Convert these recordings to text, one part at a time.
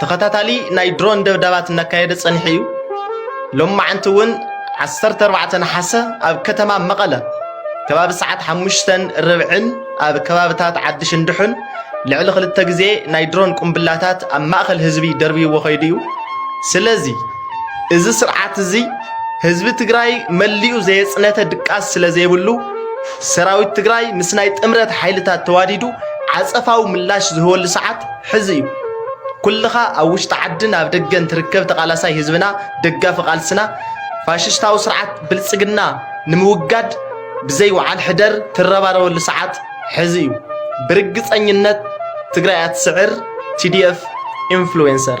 ተኸታታሊ ናይ ድሮን ደብዳባት እናካየደ ጸኒሑ እዩ። ሎም መዓንቲ እውን 14 ነሓሰ ኣብ ከተማ መቐለ ከባቢ ሰዓት ሓሙሽተን ርብዕን ኣብ ከባብታት ዓዲ ሽንድሑን ልዕሊ ክልተ ግዜ ናይ ድሮን ቁምብላታት ኣብ ማእኸል ህዝቢ ደርብይዎ ከይዱ እዩ። ስለዚ እዚ ስርዓት እዚ ህዝቢ ትግራይ መሊኡ ዘየፅነተ ድቃስ ስለ ዘይብሉ ሰራዊት ትግራይ ምስ ናይ ጥምረት ሓይልታት ተዋዲዱ ዓፀፋዊ ምላሽ ዝህበሉ ሰዓት ሕዚ እዩ ኩልኻ ኣብ ውሽጢ ዓድን ኣብ ደገን ትርከብ ተቓላሳይ ህዝብና ደጋፊ ቃልስና ፋሽስታዊ ስርዓት ብልጽግና ንምውጋድ ብዘይ ውዓል ሕደር ትረባረበሉ ሰዓት ሕዚ እዩ ብርግጸኝነት ትግራይ ኣትስዕር ቲዲኤፍ ኢንፍሉዌንሰር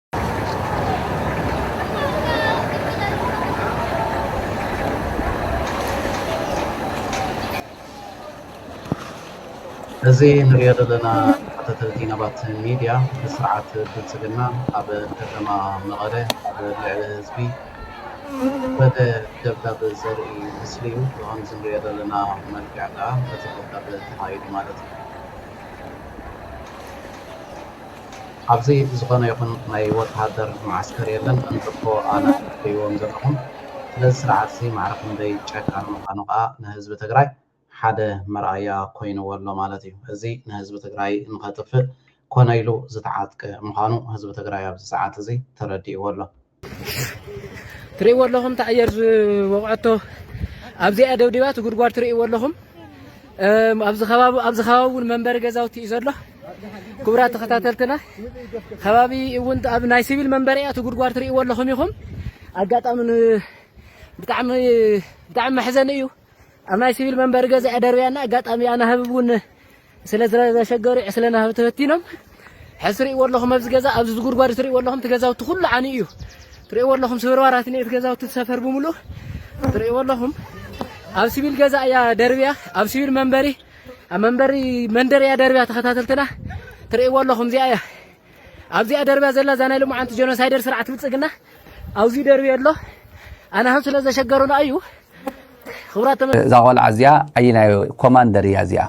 እዚ ንሪኦ ዘለና ተኸታተልቲ ናባት ሚድያ ብስርዓት ብልፅግና ኣብ ከተማ መቐለ ኣብ ልዕሊ ህዝቢ ዝወረደ ደብዳብ ዘርኢ ምስሊ እዩ። ብኸምዚ ንሪኦ ዘለና መልክዕ ከዓ እቲ ደብዳብ ተኻይዱ ማለት እዩ። ኣብዚ ዝኾነ ይኹን ናይ ወተሃደር መዓስከር የለን እንተኮ ኣነ ትርእይዎም ዘለኹም ስለዚ ስርዓት እዚ ማዕረ ክንደይ ጨካን ምኻኑ ከኣ ንህዝቢ ትግራይ ሓደ መርኣያ ኮይንዎ ኣሎ ማለት እዩ እዚ ንህዝቢ ትግራይ ንኸጥፍእ ኮነ ኢሉ ዝተዓጥቀ ምኻኑ ህዝቢ ትግራይ ኣብዚ ሰዓት እዚ ተረዲእዎ ኣሎ። ትርእይዎ ኣለኹም ተኣየር ዝወቕዐቶ ኣብዚኣ ደብዲባ እቲ ጉድጓድ ትርእይዎ ኣለኹም ኣብዚ ከባቢ ኣብዚ ከባቢ እውን መንበሪ ገዛውቲ እዩ ዘሎ ክቡራት ተኸታተልትና ከባቢ እውን ኣብ ናይ ሲቪል መንበሪ እያ እቲ ጉድጓድ ትርእይዎ ኣለኹም ኢኹም ኣጋጣሚ ብጣዕሚ ብጣዕሚ መሕዘኒ እዩ ኣብ ናይ ሲቪል መንበሪ ገዛ እያ ደርብያና ኣጋጣሚ ኣናህብ እውን ስለ ዘሸገሩ ዕስለ ናህቢ ተበቲኖም ሕዚ ትርእይዎ ኣለኹም ኣብዚ ገዛ ኣብዚ ዝጉድጓድ ትርእይዎ ኣለኹም እቲ ገዛውቲ ኩሉ ዓንዩ እዩ ትርእይዎ ኣለኹም ስብርባራት እኒኦ እቲ ገዛውቲ ሰፈር ብምሉእ ትርእይዎ ኣለኹም ኣብ ሲቪል ገዛ እያ ደርብያ ኣብ ሲቪል መንበሪ ኣብ መንበሪ መንደር እያ ደርብያ ተኸታተልትና ትርእይዎ ኣለኹም እዚኣ እያ ኣብዚኣ ደርብያ ዘላ እዛ ናይ ልሙዓንቲ ጀኖሳይደር ስርዓት ብልፅግና ኣብዚ ደርብያ ኣሎ ኣናህብ ስለ ዘሸገሩና እዩ እዛ ቆልዓ እዚኣ ኣየናይ ኮማንደር እያ እዚኣ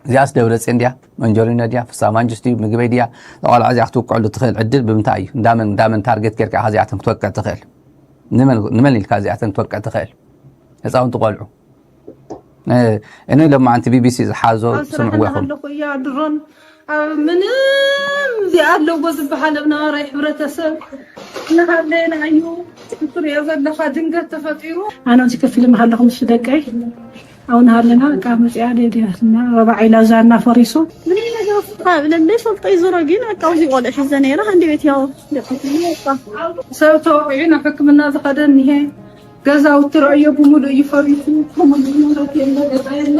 እዚኣስ ደብረፅን ድያ መንጀሪኖ ድያ ፍሳ ማንጅስት እዩ ምግበይ ድያ እዛ ቆልዓ እዚኣ ክትውቅዐሉ ትኽእል ዕድል ብምንታይ እዩ እንዳመን እንዳመን ታርጌት ጌርካ ኢኻ እዚኣተን ክትወቅዕ ትኽእል ንመን ኢልካ እዚኣተን ክትወቅዕ ትኽእል ህፃውንቲ ቆልዑ እኔ ሎማዓንቲ ቢቢሲ ዝሓዞ ስምዕዎ ይኹም ኣለኹ እያ ድሮን ኣብ ምንም እዚ ኣለዎ ዝበሃል ኣብ ነባራይ ሕብረተሰብ እናሃለየና እዩ ትሪኦ ዘለኻ ድንገት ተፈጢሩ። ኣነ ኣብዚ ከፍ ኢለ ምሃለኹ ምስ ደቀይ ኣብኡ እናሃለና በቃ መፂኣ ደድያትና ረባዕ ኢላ ዛና ፈሪሱ ምንም ነገር ካብ ለለ ፈልጦ እዩ ዞሮ ግን በቃ ኣብዚ ቆልዑ ሒዘ ነይረ ሃንዲ ቤት ያው ሰብ ተወቂዑ ናብ ሕክምና ዝኸደ እኒሀ ገዛውቲ ረእዮ ብምሉእ እዩ ፈሪሱ ከምኡ ማለት የለ ገዛ የለ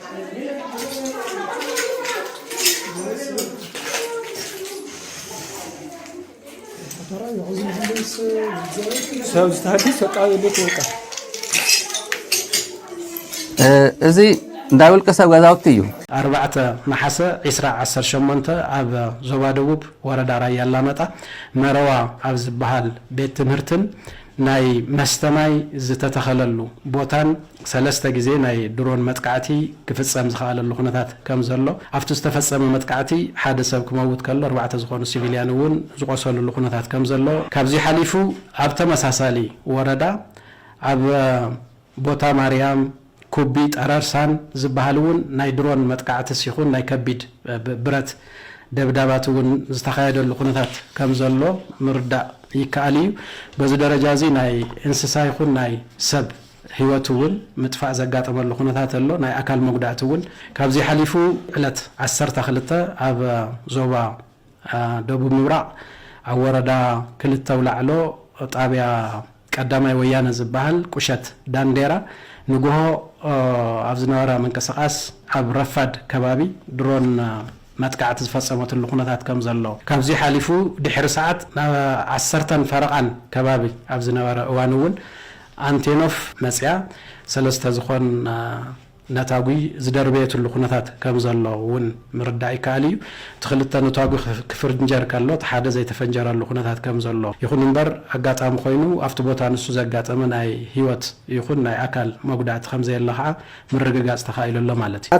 እዚ እንዳ ውልቀ ሰብ ገዛውቲ እዩ። ኣርባዕተ ነሓሰ ዒስራ ዓሰርተ ሸሞንተ ኣብ ዞባ ደቡብ ወረዳ ራያ ኣላማጣ መረዋ ኣብ ዝበሃል ቤት ትምህርትን ናይ መስተ ማይ ዝተተኸለሉ ቦታን ሰለስተ ግዜ ናይ ድሮን መጥቃዕቲ ክፍፀም ዝኸኣለሉ ኩነታት ከምዘሎ፣ ኣብቲ ዝተፈፀመ መጥቃዕቲ ሓደ ሰብ ክመውት ከሎ ኣርባዕተ ዝኾኑ ሲቪልያን እውን ዝቖሰልሉ ኩነታት ከምዘሎ፣ ካብዚ ሓሊፉ ኣብ ተመሳሳሊ ወረዳ ኣብ ቦታ ማርያም፣ ኩቢ፣ ጠረርሳን ዝበሃል እውን ናይ ድሮን መጥቃዕትስ ይኹን ናይ ከቢድ ብረት ደብዳባት እውን ዝተኻየደሉ ኩነታት ከምዘሎ ምርዳእ ይከኣል እዩ። በዚ ደረጃ እዚ ናይ እንስሳ ይኹን ናይ ሰብ ህይወት እውን ምጥፋእ ዘጋጠመሉ ኩነታት ኣሎ። ናይ ኣካል መጉዳእቲ እውን ካብዚ ሓሊፉ ዕለት ዓሰርተ ክልተ ኣብ ዞባ ደቡብ ምብራቕ ኣብ ወረዳ ክልተ ኣውላዕሎ ጣብያ ቀዳማይ ወያነ ዝበሃል ቁሸት ዳንዴራ ንጉሆ ኣብ ዝነበረ ምንቅስቓስ ኣብ ረፋድ ከባቢ ድሮን መጥቃዕቲ ዝፈፀመትሉ ኩነታት ከም ዘሎ ካብዙይ ሓሊፉ ድሕሪ ሰዓት ዓሰርተን ፈረቓን ከባቢ ኣብ ዝነበረ እዋን እውን ኣንቴኖፍ መፂኣ ሰለስተ ዝኾን ነታጒ ዝደርበየትሉ ኩነታት ከም ዘሎ እውን ምርዳእ ይከኣል እዩ። እቲ ክልተ ነታጒ ክፍርንጀር ከሎ እቲ ሓደ ዘይተፈንጀረሉ ኩነታት ከም ዘሎ ይኹን እምበር ኣጋጣሚ ኮይኑ ኣብቲ ቦታ ንሱ ዘጋጠመ ናይ ህይወት ይኹን ናይ ኣካል መጉዳእቲ ከም ዘየለ ከኣ ምርግጋጽ ተኻኢሉ ኣሎ ማለት እዩ።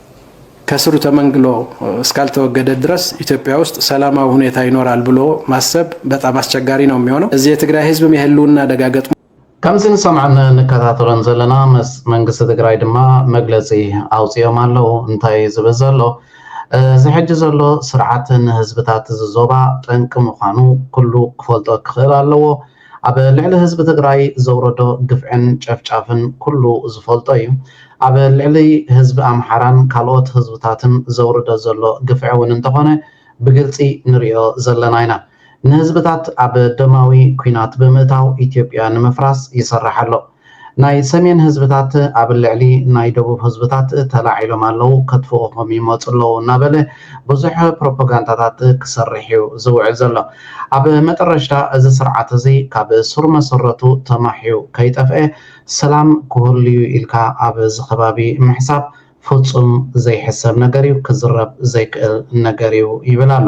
ከስሩ ተመንግሎ እስካልተወገደ ድረስ ኢትዮጵያ ውስጥ ሰላማዊ ሁኔታ ይኖራል ብሎ ማሰብ በጣም አስቸጋሪ ነው የሚሆነው። እዚህ የትግራይ ህዝብም የህልውና አደጋ ገጥሞ ከምዚ ንሰምዖን ንከታተሎን ዘለና መስ መንግስቲ ትግራይ ድማ መግለጺ ኣውጺኦም ኣለው እንታይ እዩ ዝብል ዘሎ እዚ ሕጂ ዘሎ ስርዓት ንህዝብታት እዚ ዞባ ጠንቂ ምዃኑ ኩሉ ክፈልጦ ክኽእል ኣለዎ ኣብ ልዕሊ ህዝቢ ትግራይ ዘውረዶ ግፍዕን ጨፍጫፍን ኩሉ ዝፈልጦ እዩ። ኣብ ልዕሊ ህዝቢ ኣምሓራን ካልኦት ህዝብታትን ዘውርዶ ዘሎ ግፍዒ እውን እንተኾነ ብግልፂ ንሪኦ ዘለና ኢና። ንህዝብታት ኣብ ደማዊ ኩናት ብምእታው ኢትዮጵያ ንምፍራስ ይሰርሕ ኣሎ። ናይ ሰሜን ህዝብታት ኣብ ልዕሊ ናይ ደቡብ ህዝብታት ተላዒሎም ኣለዉ፣ ከጥፍኡኹም ይመጹ ኣለዉ እናበለ ብዙሕ ፕሮፖጋንዳታት ክሰርሕ'ዩ ዝውዕል ዘሎ። ኣብ መጠረሽታ እዚ ስርዓት እዚ ካብ ሱር መሰረቱ ተማሕዩ ከይጠፍኤ ሰላም ክህሉ'ዩ ኢልካ ኣብ እዚ ከባቢ ምሕሳብ ፍጹም ዘይሕሰብ ነገር'ዩ፣ ክዝረብ ዘይክእል ነገር'ዩ ይብል ኣሎ።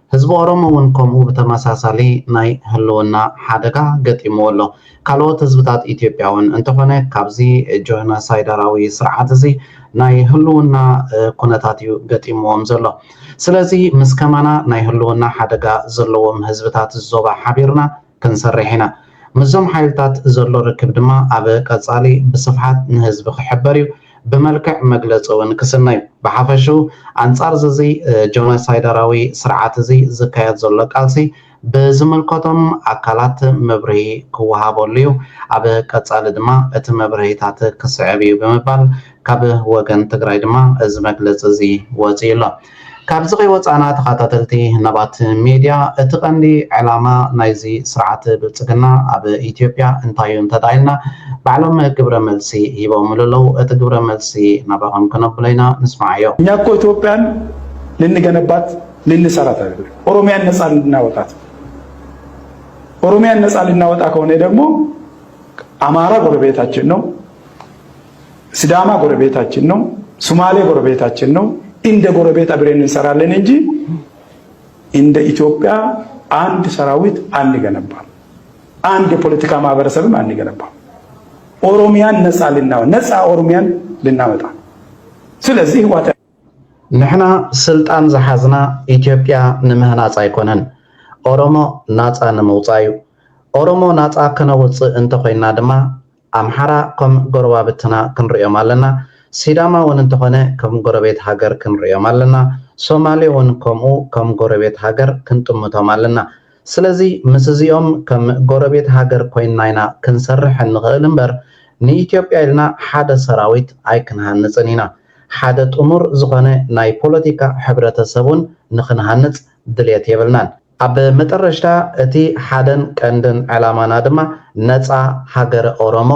ህዝቢ ኦሮሞ ውን ከምኡ ብተመሳሳሊ ናይ ህልውና ሓደጋ ገጢምዎ ኣሎ። ካልኦት ህዝብታት ኢትዮጵያ ውን። እንተኾነ ካብዚ ጆህነሳይዳራዊ ስርዓት እዚ ናይ ህልውና ኩነታት እዩ ገጢምዎም ዘሎ። ስለዚ ምስ ከማና ናይ ህልውና ሓደጋ ዘለዎም ህዝብታት ዞባ ሓቢርና፣ ክንሰርሕ ኢና። ምስዞም ሓይልታት ዘሎ ርክብ ድማ ኣብ ቀፃሊ ብስፍሓት ንህዝቢ ክሕበር እዩ፣ ብመልክዕ መግለፂ እውን ክስነ እዩ። ብሓፈሽኡ ኣንፃር ዝዚ ጆኖሳይደራዊ ስርዓት እዚ ዝካየድ ዘሎ ቃልሲ ብዝምልከቶም ኣካላት መብርሂ ክወሃበሉ እዩ፣ ኣብ ቀፃሊ ድማ እቲ መብርሂታት ክስዕብ እዩ ብምባል ካብ ወገን ትግራይ ድማ እዚ መግለፂ እዚ ወፂኡ ኣሎ። ካብዚ ከይወፃእና ተኸታተልቲ ህነባት ሚድያ እቲ ቀንዲ ዕላማ ናይዚ ስርዓት ብልፅግና ኣብ ኢትዮጵያ እንታይ እዩ እንተዳኢልና ባዕሎም ግብረ መልሲ ሂቦምሉ ኣለው እቲ ግብረ መልሲ ናባኹም ክነብሎ ኢና ንስማዓዮ። እኛ እኮ ኢትዮጵያን ልንገነባት ልንሰራት አይደል ኦሮሚያን ነፃ ልናወጣት ኦሮሚያን ነፃ ልናወጣ ከሆነ ደግሞ አማራ ጎረቤታችን ነው ስዳማ ጎረቤታችን ነው፣ ሱማሌ ጎረቤታችን ነው። እንደ ጎረቤት አብሬን እንሰራለን እንጂ እንደ ኢትዮጵያ አንድ ሰራዊት አንገነባም፣ አንድ የፖለቲካ ማህበረሰብም አንገነባም። ኦሮሚያን ነፃ ልናወ ነፃ ኦሮሚያን ልናመጣ ስለዚህ ህዋት ንሕና ስልጣን ዝሓዝና ኢትዮጵያ ንምህናፅ ኣይኮነን ኦሮሞ ናፃ ንምውፃእ እዩ። ኦሮሞ ናፃ ከነውፅእ እንተኮይና ድማ ኣምሓራ ከም ጎረባብትና ክንርእዮም ኣለና ሲዳማ ውን እንተኾነ ከም ጎረቤት ሃገር ክንርእዮም ኣለና ሶማሌ ውን ከምኡ ከም ጎረቤት ሃገር ክንጥምቶም ኣለና ስለዚ ምስ እዚኦም ከም ጎረቤት ሃገር ኮይንና ኢና ክንሰርሕ እንኽእል እምበር ንኢትዮጵያ ኢልና ሓደ ሰራዊት ኣይክንሃንጽን ኢና ሓደ ጥሙር ዝኾነ ናይ ፖለቲካ ሕብረተሰብ ውን ንኽንሃንጽ ድልየት የብልናን። ኣብ መጠረሽታ እቲ ሓደን ቀንድን ዕላማና ድማ ነጻ ሃገረ ኦሮሞ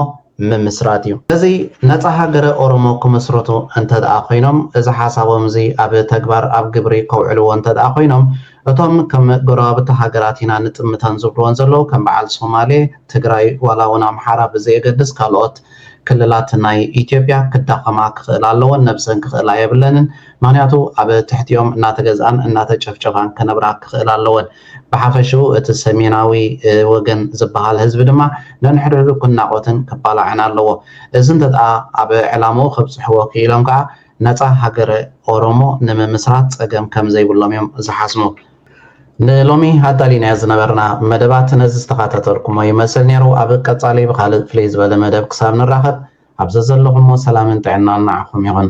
ምምስራት እዩ። እዚ ነጻ ሃገረ ኦሮሞ ክምስርቱ እንተድኣ ኮይኖም፣ እዚ ሓሳቦም እዚ ኣብ ተግባር ኣብ ግብሪ ከውዕልዎ እንተድኣ ኮይኖም፣ እቶም ከም ጎረባብቲ ሃገራት ኢና ንጥምተን ዝብልዎን ዘለዉ ከም በዓል ሶማሌ፣ ትግራይ ዋላ እውን ኣምሓራ ብዘየገድስ ካልኦት ክልላት ናይ ኢትዮጵያ ክዳኸማ ክኽእላ ኣለወን፣ ነብሰን ክኽእላ የብለንን። ምኽንያቱ ኣብ ትሕቲኦም እናተገዝኣን እናተጨፍጨፋን ክነብራ ክኽእላ ኣለወን። ብሓፈሽኡ እቲ ሰሜናዊ ወገን ዝበሃል ህዝቢ ድማ ነንሕድሕዱ ክናቖትን ክባላዕን ኣለዎ። እዚ እንተድኣ ኣብ ዕላምኡ ከብጽሕዎ ክኢሎም ከኣ ነጻ ሃገረ ኦሮሞ ንምምስራት ጸገም ከም ዘይብሎም እዮም ዝሓስሙ። ንሎሚ ኣዳሊናዮ ዝነበርና መደባት ነዚ ዝተኻታተልኩሞ ይመስል ነይሩ። ኣብ ቀጻሊ ብኻልእ ፍልይ ዝበለ መደብ ክሳብ ንራኸብ ኣብ ዘዘለኹሞ ሰላምን ጥዕናን ንዓኹም ይኹን።